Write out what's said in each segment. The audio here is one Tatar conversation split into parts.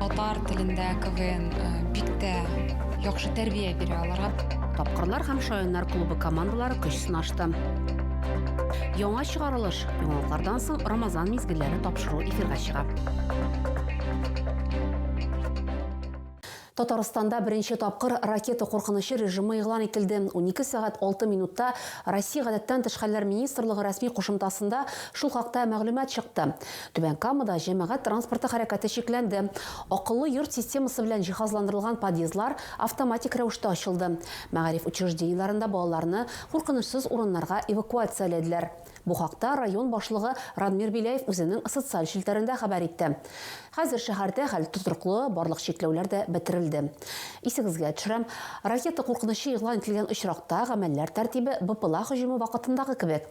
Татар телендә КВН э, бик тә яхшы тәрбия бирә аларга. Тапкырлар һәм шаяннар клубы командалары көч сынашты. Яңа чыгарылыш яңалыклардан соң Рамазан мизгелләре тапшыру эфирга чыга. Татарстанда беренче тапкыр ракета куркынычы режимы игълан ителде. 12 сәгать 6 минутта Россия гадәттән тыш хәлләр министрлыгы рәсми кушымтасында шул хакта мәгълүмат чыкты. Түбән Камада җәмәгать транспорты хәрәкәте чикләнде. Акыллы йорт системасы белән җиһазландырылган подъездлар автоматик рәвештә ачылды. Мәгариф учреждениеләрендә балаларны куркынычсыз урыннарга эвакуацияләделәр. Бу хакта район башлыгы Радмир Беляев үзенең социаль челтәрендә хәбәр итте. Хәзер шәһәрдә хәл тотрыклы, барлык чикләүләр дә бетерелде. Исегезгә төшерәм, ракета куркынычы игълан ителгән очракта гамәлләр тәртибе БПЛА һөҗүме вакытындагы кебек.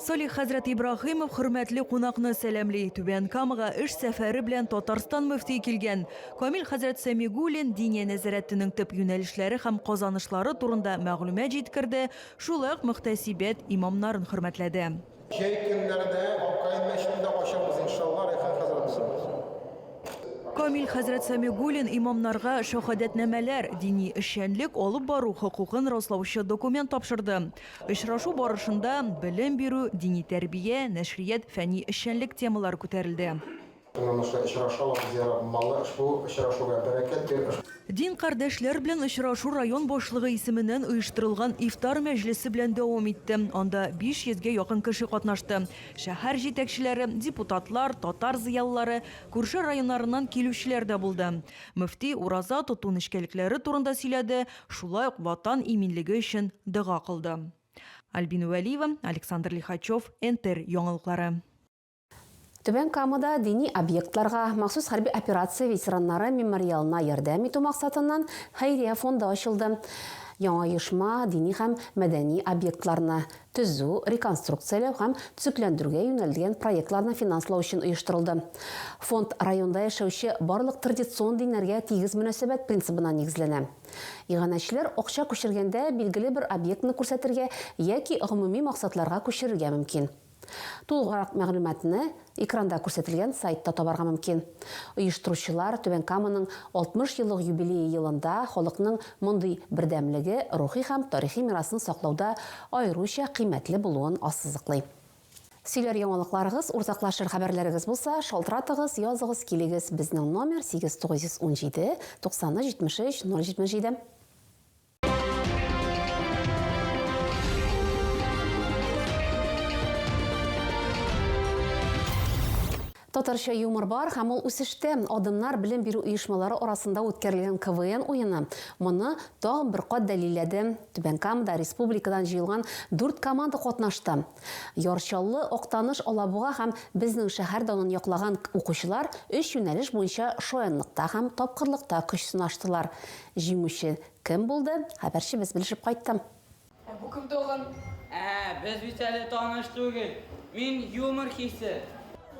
Салих хәзрәт Ибраһимов хөрмәтле кунакны сәламли. Түбән Камага эш сәфәре белән Татарстан мөфтие килгән. Камил хәзрәт Сәмигуллин Диния нәзарәтенең төп юнәлешләре һәм казанышлары турында мәгълүмат җиткерде, шулай ук мөхтәсибәт имамнарын хөрмәтләде. Җәй көннәрендә Аккаен мәчетен дә ачабыз, иншалла, Рәйхан хәзрәт белән. Камил хәзрәт Сәмигуллин имамнарга шәһадәтнамәләр, дини эшчәнлек алып бару хокукын раслаучы документ тапшырды. Очрашу барышында белем бирү, дини тәрбия, нәшрият, фәнни эшчәнлек темалары күтәрелде. Уңышлы очрашу алып зыярат малы ошбу очрашуга бәрәкәт бирер. Дин кардәшләр белән очрашу район башлыгы исеменнән оештырылган ифтар мәҗлесе белән дәвам итте. Анда 500 гә якын кеше катнашты. Шәһәр җитәкчеләре, депутатлар, татар зыялылары, күрше районнарыннан килүчеләр дә булды. Мөфти ураза тоту нечкәлекләре турында сөйләде, Шулай ук Ватан иминлеге өчен дога кылды. Альбина Вәлиева, Александр Лихачев, НТР яңалыклары. Түбән Камада дини объектларга махсус хәрби операция ветераннары мемориалына ярдәм итү максатыннан хәйрия фонды ачылды. Яңа оешма дини һәм мәдәни объектларны төзү, реконструкцияләү һәм төзекләндерүгә юнәлдгән проектларны финанслау өчен оештырылды. Фонд районда яшәүче барлык традицион диннәргә тигез мөнәсәбәт принцибына нигезләнә. Иганәчеләр акча күчергәндә билгеле бер объектны күрсәтергә яки гомуми максатларга күчерергә мөмкин. Тулгырак мәгълүматны Экранда күрсәтелгән сайтта табарга мөмкин. Оештыручылар Түбән Каманың 60 еллык юбилее елында халыкның мондый бердәмлеге, рухи һәм тарихи мирасны саклауда аеруча кыйммәтле булуын ассызыклый. Сөйләр яңалыкларыгыз, уртаклашыр хәбәрләрегез булса, шалтыратыгыз, языгыз, килегез, безнең номер, 8917 93 73 077. Татарча юмор бар һәм ул үсештә. Адымнар белем бирү оешмалары арасында үткәрелгән КВН уены моны тагын бер кат дәлилләде. Түбән Камада республикадан җыелган дүрт команда катнашты. Яр Чаллы, Актаныш, Алабуга һәм безнең шәһәр данын яклаган укучылар өч юнәлеш буенча шаянлыкта һәм тапкырлыкта көч сынаштылар. Җиңүче кем булды, хәбәрчебез белешеп кайтты. Ә бу кем тагын? Ә, без бит әле таныш түгел. Мин, юмор хисе.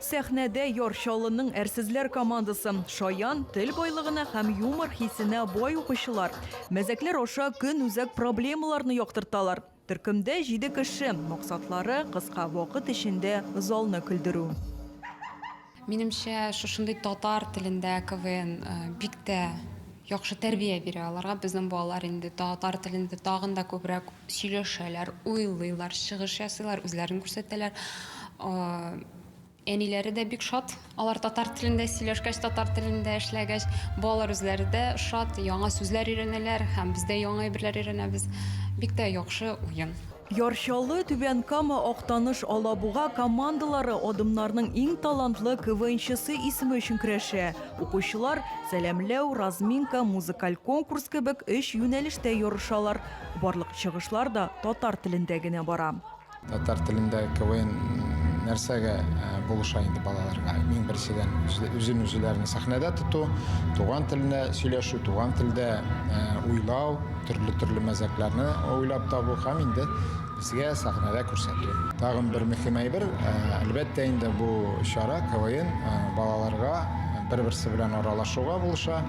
Сәхнәдә Яр Чаллының әрсезләр командасы. Шаян, тел байлыгына һәм юмор хисенә бай укучылар. Мәзәкләр аша көн үзәк проблемаларны яктырталар. Төркемдә җиде кеше. Максатлары, кыска вакыт эчендә залны көлдерү. Минемчә, шушындый татар телендә КВН бик тә яхшы тәрбия бирә аларга. Безнең балалар инде татар телендә тагын да күбрәк сөйләшәләр, уйлыйлар, чыгыш ясыйлар, үзләрен күрсәтәләр. Әниләре дә бик шат, алар татар телендә сөйләшкәч, татар телендә эшләгәч, балалар үзләре дә шат, яңа сүзләр өйрәнәләр һәм без дә яңа әйберләр өйрәнәбез. Бик тә яхшы уен. Яр Чаллы, Түбән Кама, Актаныш, Алабуга командалары адымнарның иң талантлы КВНчысы исеме өчен көрәшә. Укучылар, сәламләү, разминка, музыкаль конкурс кебек өч юнәлештә ярышалар. Барлык чыгышлар да татар телендә генә бара. Татар телендә КВН нәрсәгә э, булыша инде балаларга? Иң беренчедән үзен үзләрен сәхнәдә тоту, туган телендә сөйләшү, туган телдә э, уйлау, төрле төрле мәзәкләрне уйлап табу һәм инде безгә сәхнәдә күрсәтү. Тагын бер мөһим әйбер, э, әлбәттә инде бу чара КВН балаларга бер-берсе белән аралашуга булыша,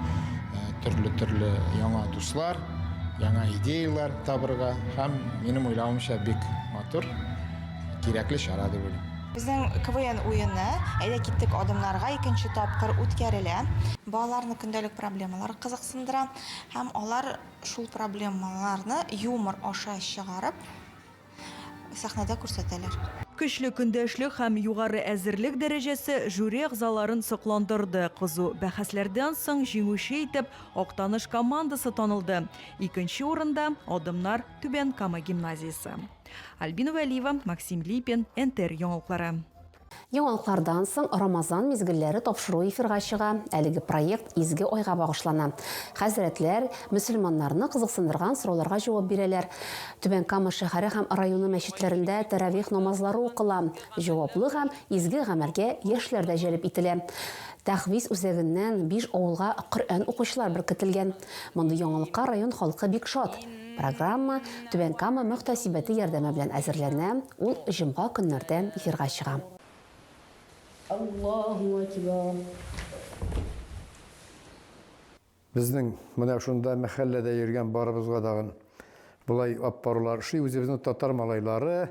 төрле төрле яңа дуслар, Яңа идеяләр табырга һәм минем уйлавымча бик матур, кирәкле чара дип уйлыйм. Безнең КВН уены Әйдә киттек адымнарга икенче тапкыр үткәрелә. Балаларны көндәлек проблемалар кызыксындыра һәм алар шул проблемаларны юмор аша чыгарып, сәхнәдә күрсәтәләр. Көчле көндәшлек һәм югары әзерлек дәрәҗәсе жюри әгъзаларын сокландырды, кызу бәхәсләрдән соң җиңүче итеп Актаныш командасы танылды, икенче урында, Адымнар, Түбән Кама гимназиясе. Альбина Вәлиева, Максим Липин, НТР яңалыклары. Яңалыклардан соң Рамазан мизгелләре тапшыру эфирга чыга, әлеге проект изге айга багышлана. Хәзрәтләр мөселманнарны кызыксындырган сорауларга җавап бирәләр. Түбән Кама шәһәре һәм районы мәчетләрендә тәравих намазлары укыла, җаваплы һәм изге гамәлгә яшьләр дә җәлеп ителә. Тәхвиз үзәгеннән биш авылга Коръән укучылар беркетелгән. Мондый яңалыкка район халкы бик шат. Программа Түбән Кама мөхтәсибәте ярдәме белән әзерләнә, ул җомга көннәрдә эфирга чыга. Аллаһу әкбәр. Безнең менә шунда мәхәлләдә йөргән барыбызга дагын болай аппарулар ошый, үзебезнең татар малайлары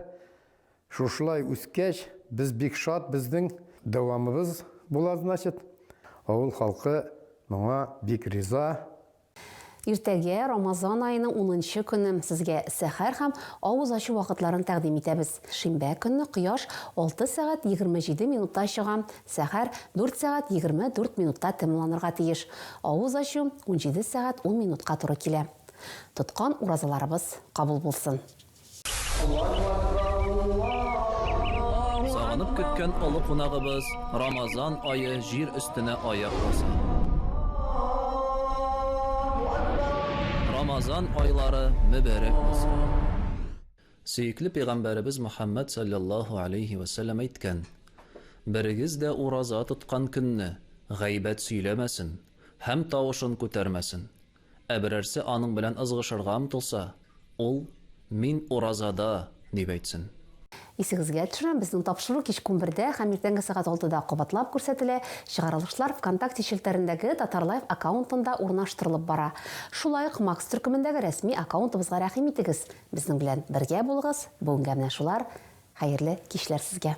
шушылай үскәч, без бик шат, безнең дәвамыбыз була, значит. Авыл халкы моңа бик риза. Иртәгә, Рамазан аеның унынчы көне, сезгә сәхәр һәм авыз ачу вакытларын тәкъдим итәбез. Шимбә көнне кояш алты сәгать егерме җиде минутта чыга, сәхәр дүрт сәгать егерме дүрт минутта тәмамланырга тиеш, авыз ачу унҗиде сәгать ун минутка туры килә. Тоткан уразаларыбыз кабул булсын! Сагынып көткән олы кунагыбыз Рамазан ае җир өстенә аяк баса. Рамазан айлары мөбәрәк булсын! Сөекле пәйгамбәребез Мөхәммәд салләллаһу алейһи вә сәлләм әйткән, Берегез дә ураза тоткан көнне гайбәт сөйләмәсен һәм тавышын күтәрмәсен. Ә берәрсе аның белән ызгышырга омтылса, ул, Мин уразада! дип әйтсен. Исегезгә төшерәм, безнең тапшыру кичке унбердә һәм иртәнге сәгать алтыда кабатлап күрсәтелә, чыгарылышлар ВКонтакте челтәрендәге Татарлайф аккаунтында урнаштырылып бара. Шулай ук Макс төркемендәге рәсми аккаунтыбызга рәхим итегез. Безнең белән бергә булыгыз, бүгенгә менә шулар, хәерле кичләр сезгә!